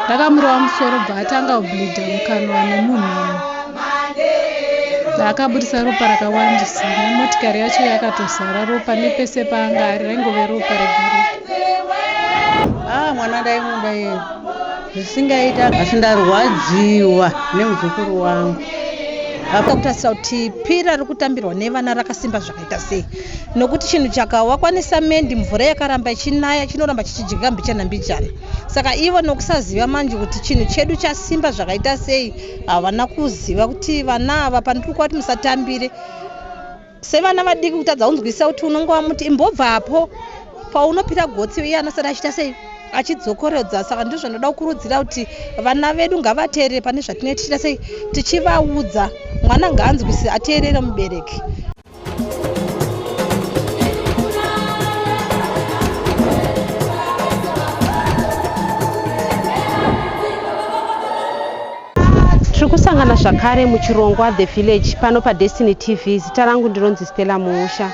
ndakamurova musoro bva atanga kubleeda mukanwa nemunhumu akabudisa ropa rakawandisa nemotikari yacho yakatozara ropa nepese paanga ari raingove ropa regaropa ah mwana ndaimuda iye zvisingaita asi ndarwadziwa nemuzukuru wangu akakutarisa kuti pira rikutambirwa nevana rakasimba zvaka Ita sei nokuti chinhu chakawakwa nesamende mvura yakaramba ichinaya chinoramba chichidyika mbichana mbichana saka ivo nokusaziva manje kuti chinhu chedu chasimba zvakaita sei havana kuziva kuti vana ava pandiri kuva kuti musatambire sevana vadiki kutadza kunzwisisa kuti unonge wamuti imbobvapo paunopira gotsi iye anosara achiita sei achidzokorodza saka ndizvo zvinoda kukurudzira kuti vana vedu ngavateerere pane zvatinee tichiita sei tichivaudza mwana ngaanzwisise ateerere mubereki tiri kusangana zvakare muchirongwa the village pano padestiny tv zita rangu ndinonzi stella muusha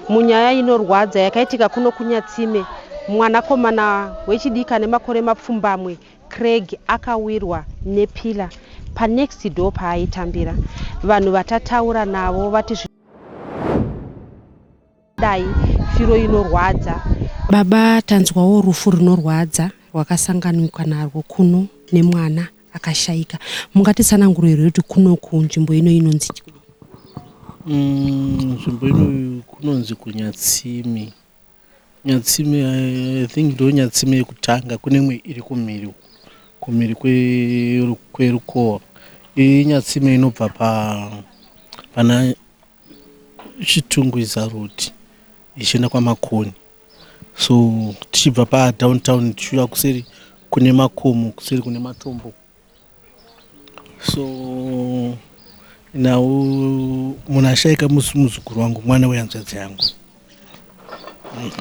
Munyaya inorwadza yakaitika kuno kuNyatsime, mwanakomana wechidiki ane makore mapfumbamwe, Craig, akawirwa nepillar panext door paaitambira. Vanhu vatataura navo vati zvinodai firo inorwadza. Baba, tanzwawo rufu runorwadza rwakasanganikwa narwo kuno nemwana. akashaika mungatitsanangurirei kuti kunoku nzvimbo ino inonzi mm, nzvimbo ino kunonzi kunyatsimi nyatsimi i think ndo nyatsimi yekutanga kune imwe iri kumhiri kumhiri kwerukowa inyatsimi inobva pa pana Chitungwiza road ichienda kwaMakoni so tichibva paDown Town tichiuya kuseri kune makomo kuseri kune matombo so now munhu ashaika musi muzukuru wangu mwana wehanzvadzi yangu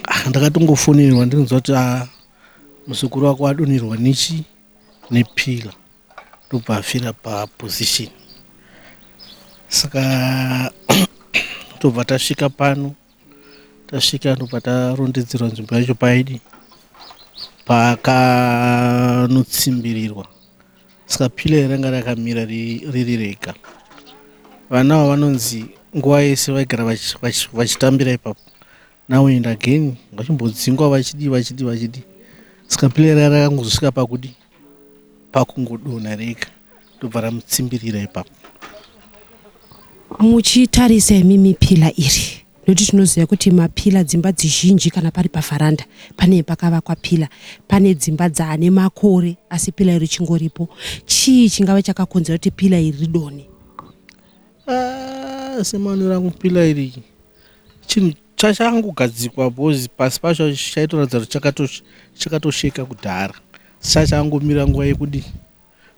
ah, ndakatongofonerwa ndinonzwa kuti ah, muzukuru wako adonherwa nechi nepila ndobva afira paposition saka tobva tasvika pano tasvika ndobva tarondedzerwa nzvimbo yacho paidi pakanotsimbirirwa saka pila iranga rakamira riri rega vana ava vanonzi nguva yese vaigara vachitambira ipapo now and again vachimbodzingwa vachidii vachidii vachidii saka pile raya rakangozosvika pakudi pakungodonha rega ndobva ramutsimbirira ipapo muchitarisa imi mipila iri nokuti tinoziva kuti mapila dzimba dzizhinji kana pari pavharanda pane pakavakwa pila pane dzimba dzaane makore asi pila iri chingoripo chii chingava chakakonzera kuti pila iri ridone ah, semaonero angu pila iri chinhu chachangogadzikwa bhozi pasi pacho chaitoratidza kuti chakatosheka kudhara sachangomira nguva yekudi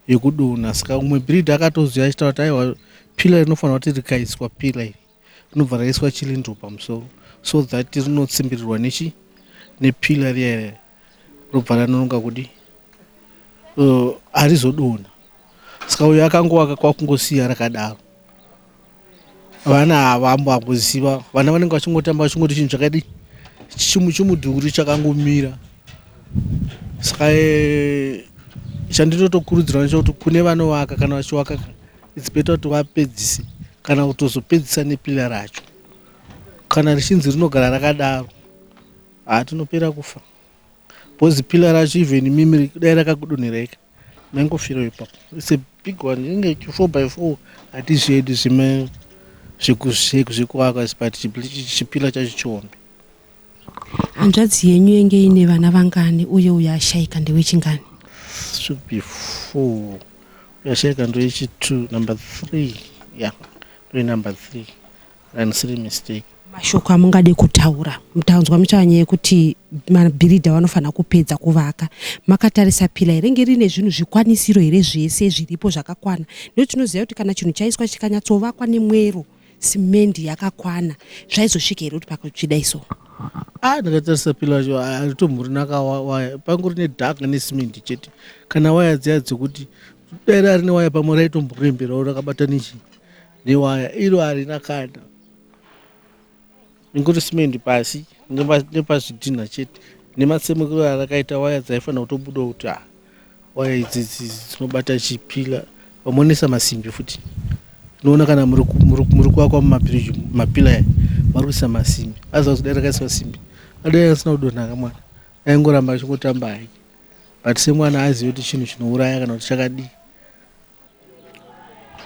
yekudona saka umwe brid akatoziva achitaura kuti aiwa pila rinofanira kuti rikaiswa pila iri rinobva raiswa chilindo pamusoro so that rinotsimbirwa nechi nepila riya robva ranononga kudi uh, harizodona saka uyo akangovaka kwakungosiya rakadaro vana havambo akuziva vana vanenge vachingotamba vachingoti chinhu chakadi chimu chimudhuri chakangomira saka eh, chandinotokurudzira nacho kuti kune vanovaka kana vachivaka its better kuti vapedzise kana kutozopedzisa nepila racho kana richinzi rinogara rakadaro hatinopera kufa bcause pila racho even mimiri dai rakakudonheraika maingofirawo ipapo its a big one inenge chi four by four hatizvedi zvime zvekuzvekuakwa but chipila chacho chihombe hanzvadzi yenyu yenge ine vana vangani uye uyo ashaika ndewechingani should be four uyashaika ndoyechitwo number three ya yeah. ndoye number three Haisiri mistake. Mashoko amungade kutaura mutanzwa muchava nyaya yekuti mabhiridha vanofanira kupedza kuvaka makatarisa pila here nge rine zvinhu zvikwanisiro here zvese zviripo zvakakwana nekuti tinoziva kuti kana chinhu chaiswa chikanyatsovakwa nemwero simendi yakakwana zvaizosvika here kuti pakutsvida iso ah ndakatarisa pila cho aritomhurinaka waya pangu rine dark nesimendi chete kana waya dziya dzekuti dai rari newaya pamwe raitomboremberawo rakabata nechii Newaya iro harina kana ingori simendi pasi nepazvidhinha chete nematsemukiro arakaita waya dzaifanira kutobuda kuti ah, waya idzi dzinobata chipila vamonesa masimbi futi tinoona kana muri kuvakwa mumabiriji mapila vari kuisa masimbi aziva kudai rakaiswa simbi adai asina kudonhaka mwana aingoramba achingotamba hake but semwana azive kuti chinhu chinouraya kana kuti chakadii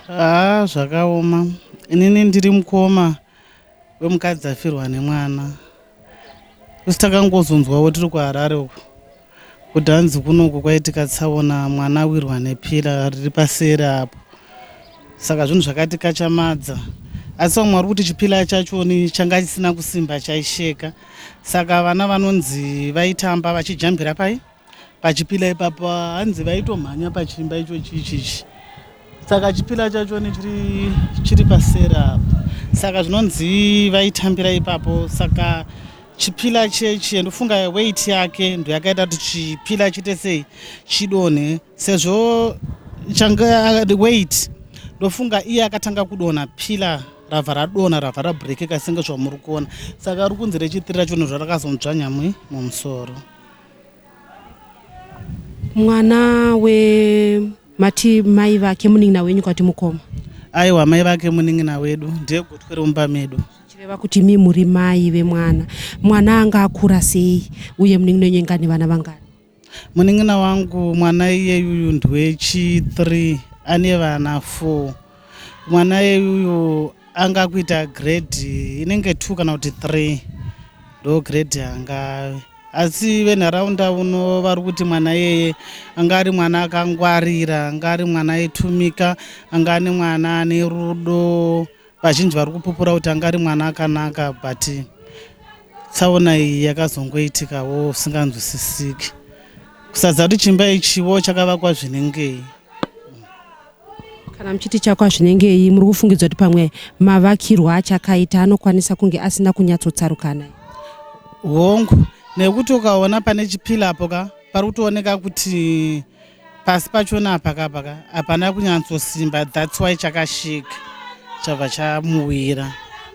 Haa zvakaoma inini ndiri mukoma wemukadzi afirwa nemwana kusi takangozonzwawo tiri kuharare uku kuti hanzi kunoku kwaitika tsaona mwana awirwa nepira riri paseri apo saka zvinhu zvakatikachamadza asi vamwe vari kuti chipila chachoni changa chisina kusimba chaisheka saka vana vanonzi vaitamba vachijambira pai pachipila ipapo hanzi vaitomhanya pachiimba icho chichichi saka chipila chacho nechiri chiri pasera saka zvinonzi vaitambira ipapo saka chipila chechi ndofunga weit yake ndo yakaita kuti chipila chiite sei chidonhe sezvo changa weit ndofunga iye akatanga kudonha pila rabva radonha rabva rabrekeka senge zvamuri kuona saka ari kunzi rechitiri racho nezvarakazonzvanyamwi mumusoro mwana we mati mai vake munin'ina wenyu kwati mukoma aiwa mai vake munin'ina wedu ndiye gotwe romumba medu chireva kuti mi muri mai vemwana mwana anga akura sei uye munin'ina wenyu inga nevana vangani munin'ina wangu mwana iyeyuyu ndwechi 3 ane vana 4 mwana yeyuyu anga kuita grade inenge two kana kuti three ndo grade yangave asi venharaunda uno vari kuti mwana iyeye anga ari mwana akangwarira anga ari mwana aitumika anga ane mwana ane rudo vazhinji vari kupupura kuti anga ari mwana akanaka but tsaona iyi yakazongoitikawo usinganzwisisiki kusadza kuti chimba ichiwo chakavakwa zvinengei Kana muchiti chako hazvinengei muri kufungidza kuti pamwe mavakirwa achakaita anokwanisa kunge asina kunyatsotsarukana. Hongu nekuti ukaona pane chipila apo ka pari kutooneka kuti pasi pachona apa kapa ka hapana kunyatsosimba that's why chakashika chabva chamuwira.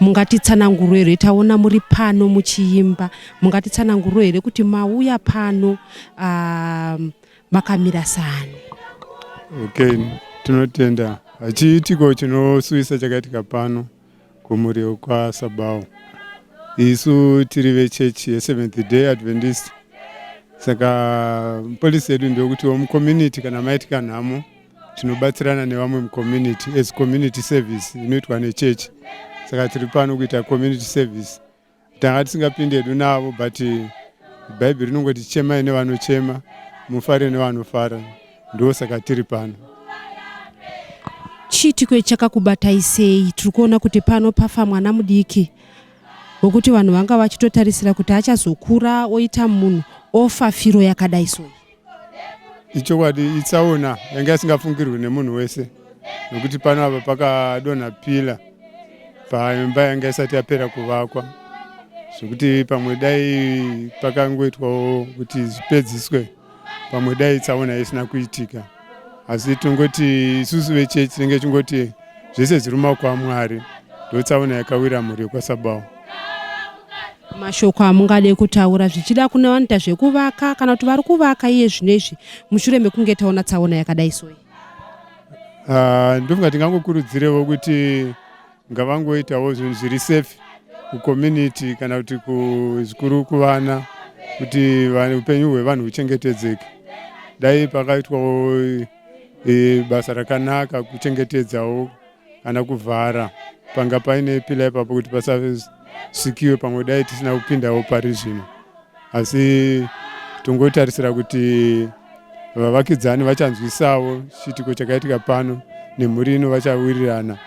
mungatitsananguro here taona muri pano muchiimba mungatitsananguro here kuti mauya pano uh, makamira sani okay tinotenda hachiitiko chinosuwisa chakaitika pano kumuriwo kwasabawo isu tiri vechechi yeseventh day adventist saka polisi yedu ndeyokuti womucommunity kana maitika nhamo tinobatsirana nevamwe mucommunity as community service inoitwa nechechi saka tiri pano kuita community service tanga tisingapindi hedu navo but bhaibheri rinongoti chemai nevanochema mufare nevanofara ndo saka tiri pano chiitiko chakakubatai sei tiri kuona kuti pano pafa mwana mudiki wekuti vanhu vanga vachitotarisira kuti achazokura oita munhu ofa firo yakadai soi ichokwadi itsaona yanga isingafungirwi nemunhu wese nokuti pano apa pakadonha pila paimba yanga isati yapera kuvakwa zvekuti pamwe dai pakangoitwawo kuti zvipedziswe pamwe dai tsaona isina kuitika asi tongoti isusu vechechi tinenge chingoti zvese zviri mumaoko amwari ndotsaona yakawira mhuri yekwasabawo mashoko amungade kutaura zvichida kune vanoita zvekuvaka kana kuti vari kuvaka iye zvino izvi mushure mekunge taona tsaona yakadai soyi ah, ndofunga tingangokurudzirevo kuti ngavangoitawo zvinhu zviri safe kucommunity kana kuti kuzvikuru kuvana kuti upenyu hwevanhu huchengetedzeke dai pakaitwawo e, basa rakanaka kuchengetedzawo kana kuvhara panga paine pila ipapo kuti pasasikiwe pamwe dai tisina kupindawo pari zvino asi tongotarisira kuti vavakidzani vachanzwisawo chiitiko chakaitika pano nemhuri ino vachawirirana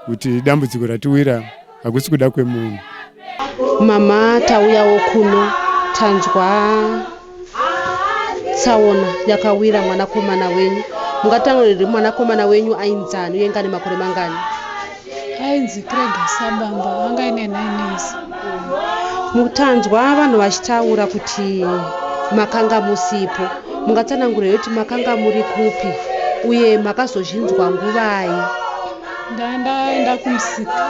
kuti dambudziko ratiwira hakusi kuda kwemunhu mama tauyawo kuno tanzwa tsaona yakawira mwanakomana wenyu mungataure riri mwanakomana wenyu ainzani uye ngane makore mangani ainzi krega sabamba anga ine nines mutanzwa vanhu vachitaura kuti makanga musipo mungatsanangura yekuti makanga muri kupi uye makazozvinzwa nguvai ndandaenda kumusika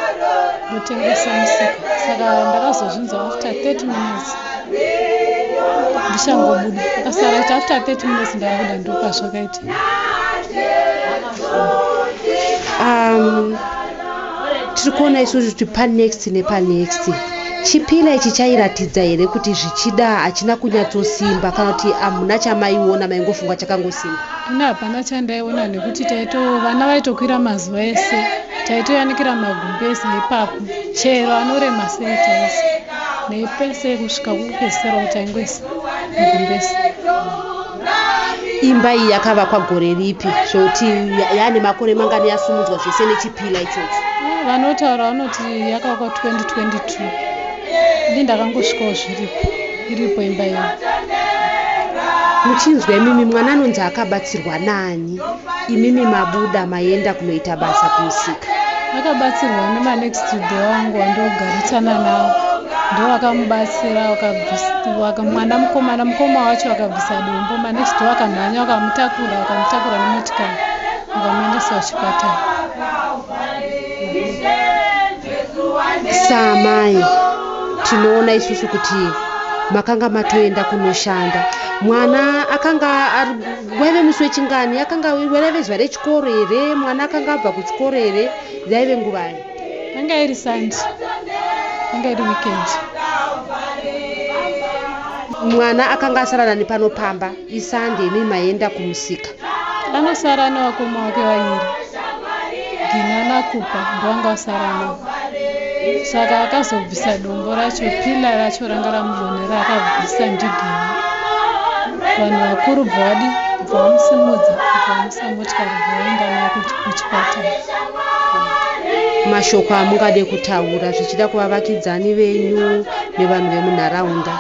ndotengesa musika saka ndakazozvinzwa after 30 minutes ndichangobuda akasara iti after 30 minutes ndabuda ndopazvakaita um, tiri kuona isusu kuti panext nepanext chipila ichi chairatidza here kuti zvichida hachina kunyatsosimba kana kuti hamuna chamaiona maingofunga chakangosimba ini hapana chandaiona nekuti taito vana vaitokwira mazuva ese taitoyanikira magumbeza ipapo chero anorema sei taisi nepese kusvika kupedzisira kuti aingoisa magumbeza imba iyi yakavakwa gore ripi zvekuti yaane makore mangani yasumudzwa zvese nechipila ichocho eh, vanotaura vanoti yakavakwa 2022 ndi ndakangosvikawo zviripo iripo imba iyo muchinzwa imimi mwana anonzi akabatsirwa nani imimi mabuda maenda kunoita basa kumusika akabatsirwa nemanext door wangu wandogarisana nawo ndo vakamubatsira mwana mukomana mukoma wacho vakabvisa dombo manext door akamhanya vakamutakura vakamutakura nemotikari vakamuendesa kuchipatara saamai tinoona isusu kuti makanga matoenda kunoshanda mwana akanga waive musi wechingani akanga waive zuva rechikoro here mwana akanga abva kuchikoro here yaive nguvai yanga iri sandi yanga iri weekend mwana akanga asara nani pano pamba Isande imi maenda kumusika. Anosara nevakoma wake vaviri. Gina naKupa ndovanga vasara navo. Saka akazobvisa dombo racho, pila racho ranga ramuvonera akabvisa ndigina. Vanhu vakuru bvadi bvamusimudza bvamusa motikari bvaenda naye kuchipatara. Mashoko amungade kutaura zvichida kuvavakidzani venyu nevanhu vemunharaunda.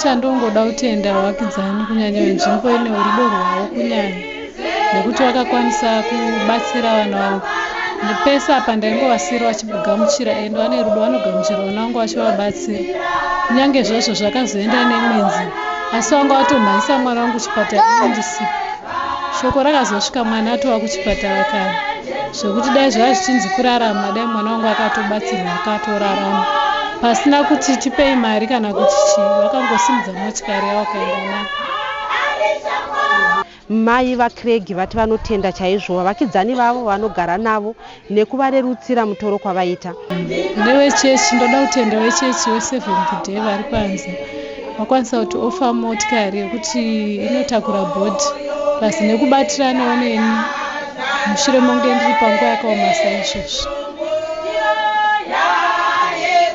Chandongoda kutenda vakidzani kunyanya venzvimbo ine urudo rwavo kunyanya nekuti vakakwanisa kubatsira vana vangu ndipese apa ndaingovasiri vachigamuchira ende vane rudo vanogamuchira vana vangu vachivabatsira kunyange zvazvo zvakazoenda nemwenzi asi vanga vatomhanyisa mwana wangu chipatara ndisipo Shoko rakazosvika mwana atova kuchipatara kare zvekuti dai zvaiva zvichinzi kurarama dai mwana wangu akatobatsirwa akatorarama pasina kuti tipei mari kana kuti chii vakangosimudza motikari yavo kaenda nayo Mai vaCraig vati vanotenda chaizvo vavakidzani vavo vanogara navo nekuvarerutsira mutoro kwavaita. Ndewechechi ndoda kutenda wechechi weSeventh Day vari panze vakwanisa kuti ofa motikari yekuti inotakura bhodhi pasi nekubatiranawo neni mushure monge ndiri panguva yakaoma saizvozvi.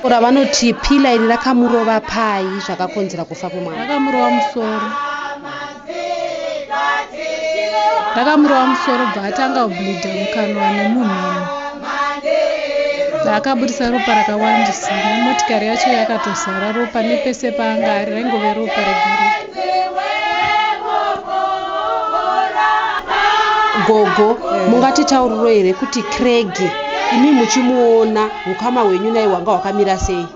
Ora vanoti pila iri rakamurova pai zvakakonzera kufa kwemwana? Rakamurova musoro. ndakamurova musoro bva atanga kubleeda mukanwa nemunhamo bva akaburitsa ropa rakawandisa nemotikari yacho yakatozara ropa nepese paanga ari raingove ropa regareka gogo mungatitauriro here kuti cregi imi muchimuona ukama hwenyu naye hwanga hwakamira sei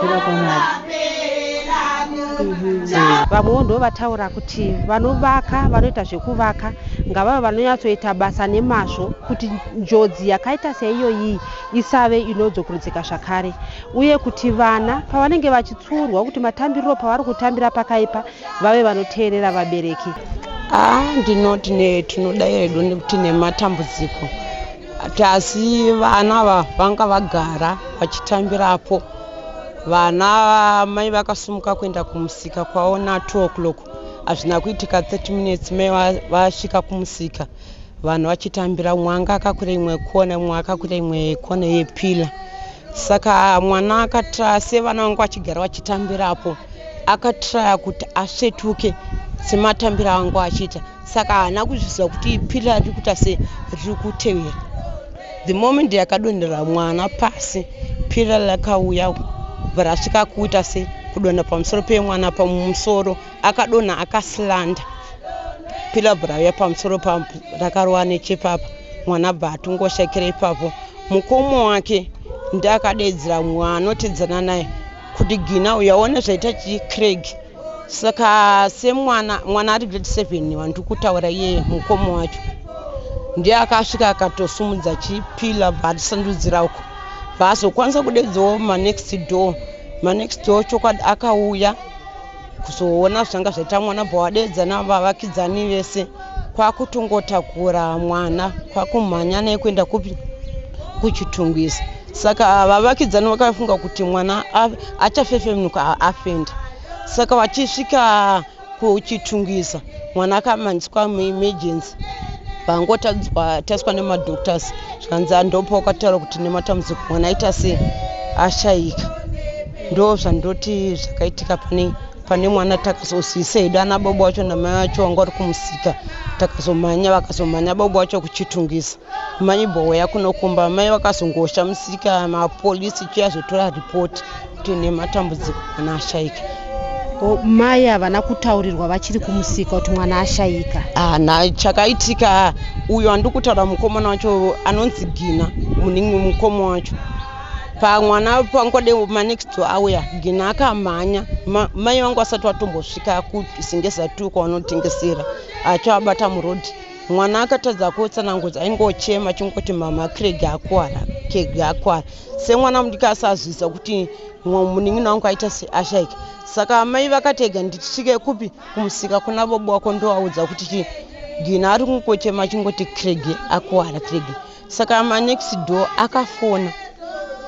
kuda kwamwari vamwewo ndo vataura kuti vanovaka vanoita zvekuvaka ngavava vanonyatsoita basa nemazvo kuti njodzi yakaita seiyoyi isave inodzokurudzika zvakare uye kuti vana pavanenge vachitsuurwa kuti matambiriro pavari kutambira pakaipa vave vanoteerera vabereki haa ah, ndinoti ne tinoda yedu nekuti nematambudziko Tasi vana ava vanga vagara vachitambirapo. Vana mai vakasumuka kuenda kumusika kwavo na 2 o'clock. Hazvina kuitika 30 minutes mai vasvika kumusika vanhu vachitambira umwe anga akakwira imwe kona umwe akakwira imwe kona yepila saka mwana akatraya sevana vanga vachigara vachitambirapo akatraya kuti asvetuke sematambiro anga achiita saka haana kuzviziva kuti phira riri kuita se riri kutevera the moment yakadonhera mwana pasi phira rakauya rasvika kuita se kudonha pamusoro pemwana pamusoro akadonha akasilanda phira bva rauya pamusoro pa rakarova nechepapa mwana bva atongoshekera ipapo mukomo wake ndiakadedzera mwana otedzana naye kuti gina uyaona zvaita chicraig saka semwana mwana ari grade seven wandiri kutaura iye mukoma wacho ndiye akasvika akatosumudza chipila bvaatisandudzira uko bvaazokwanisa kudedzawo manext door manext door chokwadi akauya kuzoona zvanga zvaita mwana bvawadedza navavakidzani vese kwakutongotakura mwana kwakumhanya naye kuenda kupi kuchitungwiza saka vavakidzani vakafunga kuti mwana achafefemuka afenda saka vachisvika kuchitungwiza mwana akamanyiswa muemergency vangotadzwa nemadoctors zvikanzi andopa wakataura kuti nematambudziko mwana aita sei ashaika ndo zvandoti zvakaitika pane pane mwana takazosisa hedu ana bobo wacho namai wacho vanga vari kumusika takazomhanya vakazomhanya bobo wacho kuchitungisa mai bowe yakunokumba mai vakazongosha musika mapolisi cho yazotora ripoti kuti nematambudziko mwana ashaika mai havana kutaurirwa vachiri kumusika kuti mwana ashaika ana ah, chakaitika uyo andikutaura mukomana wacho anonzi gina muningi mukoma wacho pamwana pangode manext to auya gina akamhanya mai vangu vasati vatombosvika kusingeza tu kwavanotengesera achiabata murodi mwana akatadza kutsananguza aingochema chingoti mama creg akwara creg akwara semwana mudiki asazvisa kuti munin'ina wangu aita seashaika saka amai vakatega nditisvike kupi kumusika kuna bobo wako ndovaudza kuti gina ari kungochema chingoti creg akwara creg saka manext door akafona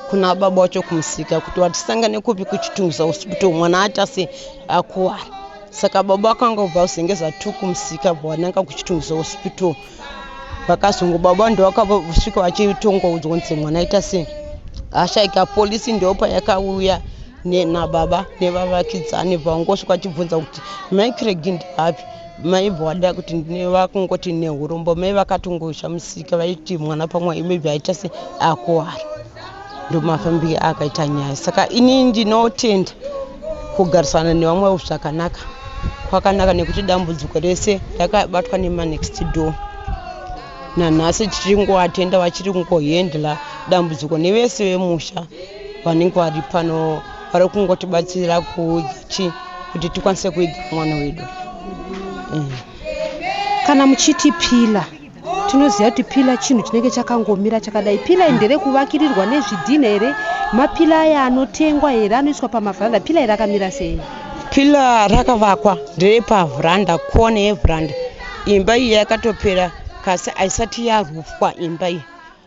kuna baba wacho kumusika kuti watisangane kupi kuchitunguza hospital mwana atase akuwara saka baba akanga ubva kuzengeza two kumusika bwananga kuchitunguza hospital vakazongo baba ndovakasvika vachitonga udzwa kuti mwana aita sei ashaika polisi ndopa yakauya nababa nevavakidzani vangosvika vachibvunza kuti micreg ndiapi maibva wada kuti vakungoti nehurombo mai vakatongozha musika vaiti mwana pamwe imibva aita se akuwara ndomafambire akaita nyaya saka ini ndinotenda kugarisana nevamwe zvakanaka kwakanaka nekuti dambudziko rese rakabatwa nemanext door nanhasi tichiri ngovatenda vachiri ngohendla dambudziko nevese vemusha vanenge vari pano vari kungotibatsira kuudza chii kuti tikwanise kuidza mwana wedu mm. kana muchiti pila tinoziva kuti pila chinhu chinenge chakangomira chakadai pila ndere kuvakirirwa nezvidhina here mapila aya anotengwa here anoiswa pamavhanda pila iri akamira sei pila rakavakwa nderepavhranda kone yevhranda imba iyi yakatopera kasi haisati yarufwa imba iyi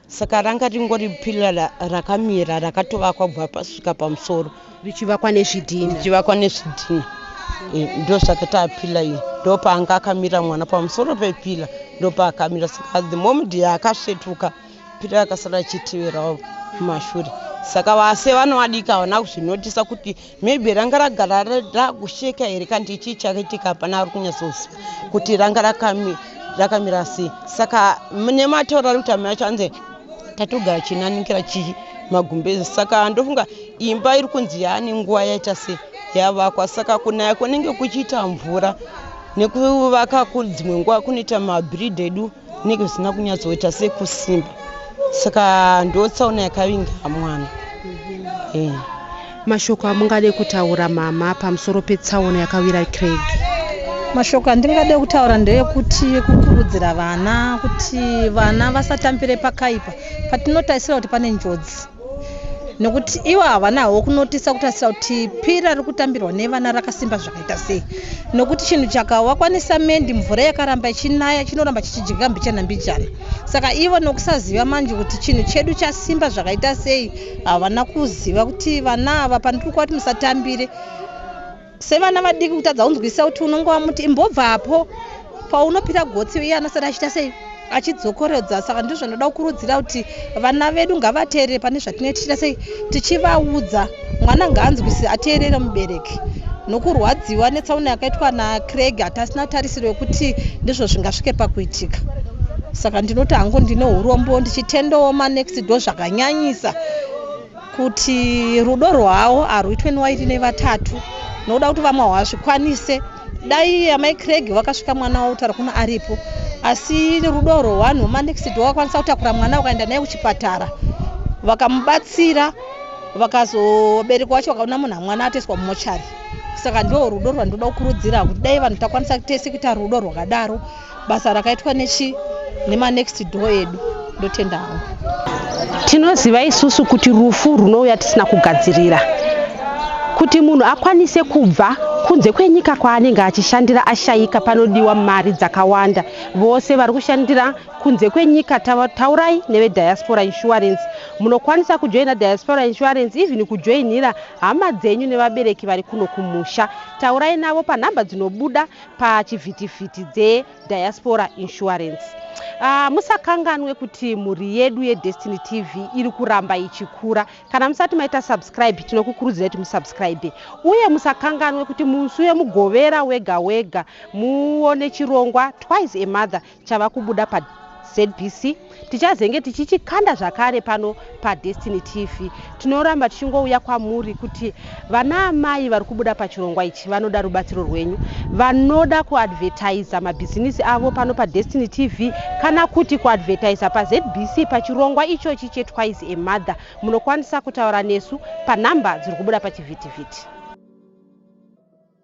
saka ranga ringori pila rakamira rakatovakwa kubva pasvika pamusoro richivakwa nezvidhina richivakwa nezvidhina eh, ndosaka tapila iyo ndopaanga akamira mwana pamusoro pepila ndopaakamira saka the moment yaakasvetuka pila yakasara ichiteverawo kumashure saka vase vanoadika havana kuzvinotisa kuti maybe ranga ragara rakusheka here kandi chii chakaitika hapana ari kunyatsoziva kuti ranga rakamira sei saka nematauro ari kuti amai acho anzi tatogara chinanikira chii magumbezi saka ndofunga imba iri kunzi yaane nguva yaita se yavakwa saka kunaya kunenge kuchiita mvura nekuvaka kudzimwe nguva kunoita mabrid edu kunenge zvisina kunyatsoita sekusimba saka ndotsaona yakavinga mwana eh. mashoko amungade kutaura mama pamusoro petsaona yakawira craig mashoko andingade kutaura ndeyekuti kukurudzira vana kuti vana vasatambire pakaipa patinotarisira kuti pane njodzi nokuti ivo havanawo kunotisa kutarisira kuti pi rari kutambirwa nevana rakasimba zvakaita sei nokuti chinhu chakawakwanisa mendi mvura yakaramba ichinaya chinoramba chichidyika mbichana mbichana saka ivo nokusaziva manje kuti chinhu chedu chasimba zvakaita sei havana kuziva kuti vana ava pandiri kuva kuti musatambire Sevana vadiki kutadza kunzwisisa kuti unonge wamuti imbobva apo paunopira gotsi iye anosara achiita sei achidzokorodza saka ndizvo zvinoda kukurudzira kuti vana vedu ngavateerere pane zvatinenge tichiita sei tichivaudza mwana ngaanzwisise ateerere mubereki nokurwadziwa netsaona yakaitwa nacraig hatasina tarisiro yekuti ndizvo zvingasvike pakuitika saka ndinoti hangu ndine urombo ndichitendawo manext do zvakanyanyisa kuti rudo rwawo arwuitwe newairi nevatatu nokuda kuti vamwe hawazvikwanise dai amai creg vakasvika mwana wavo kutaura kuno aripo asi rudo rwewanhu wemanexid wakakwanisa kutakura mwana wakaenda naye kuchipatara vakamubatsira vakazoberekwa wacho vakaona munhu amwana atoiswa mumochari saka ndo rudo rwandinoda kukurudzira kuti dai vanhu takwanisa tese kuita rudo rwakadaro basa rakaitwa nechi nemanext door edu ndotenda hangu tinoziva isusu kuti rufu runouya tisina kugadzirira kuti munhu akwanise kubva kunze kwenyika kwaanenge achishandira ashayika panodiwa mari dzakawanda vose vari kushandira kunze kwenyika taurai nevediaspora insurance munokwanisa kujoina diaspora insurance even kujoinira hama dzenyu nevabereki vari kuno kumusha taurai navo panhamba dzinobuda pachivhitivhiti dzeDiaspora Insurance. Uh, musakanganwe kuti mhuri yedu yedestiny tv iri kuramba ichikura kana musati maita subscribe tinokukurudzira kuti musubscribe uye musakanganwe kuti musi wemugovera wega wega muone chirongwa twice a mother chava kubuda pa ZBC tichazenge tichichikanda zvakare pano paDestiny TV. Tinoramba tichingouya kwamuri kuti vana amai vari kubuda pachirongwa ichi vanoda rubatsiro rwenyu, vanoda kuadvertiza mabhizinisi avo pano paDestiny TV kana kuti kuadvertiza paZBC pachirongwa ichochi cheTwice a Mother. Munokwanisa kutaura nesu panhamba dziri kubuda pachivhitivhiti.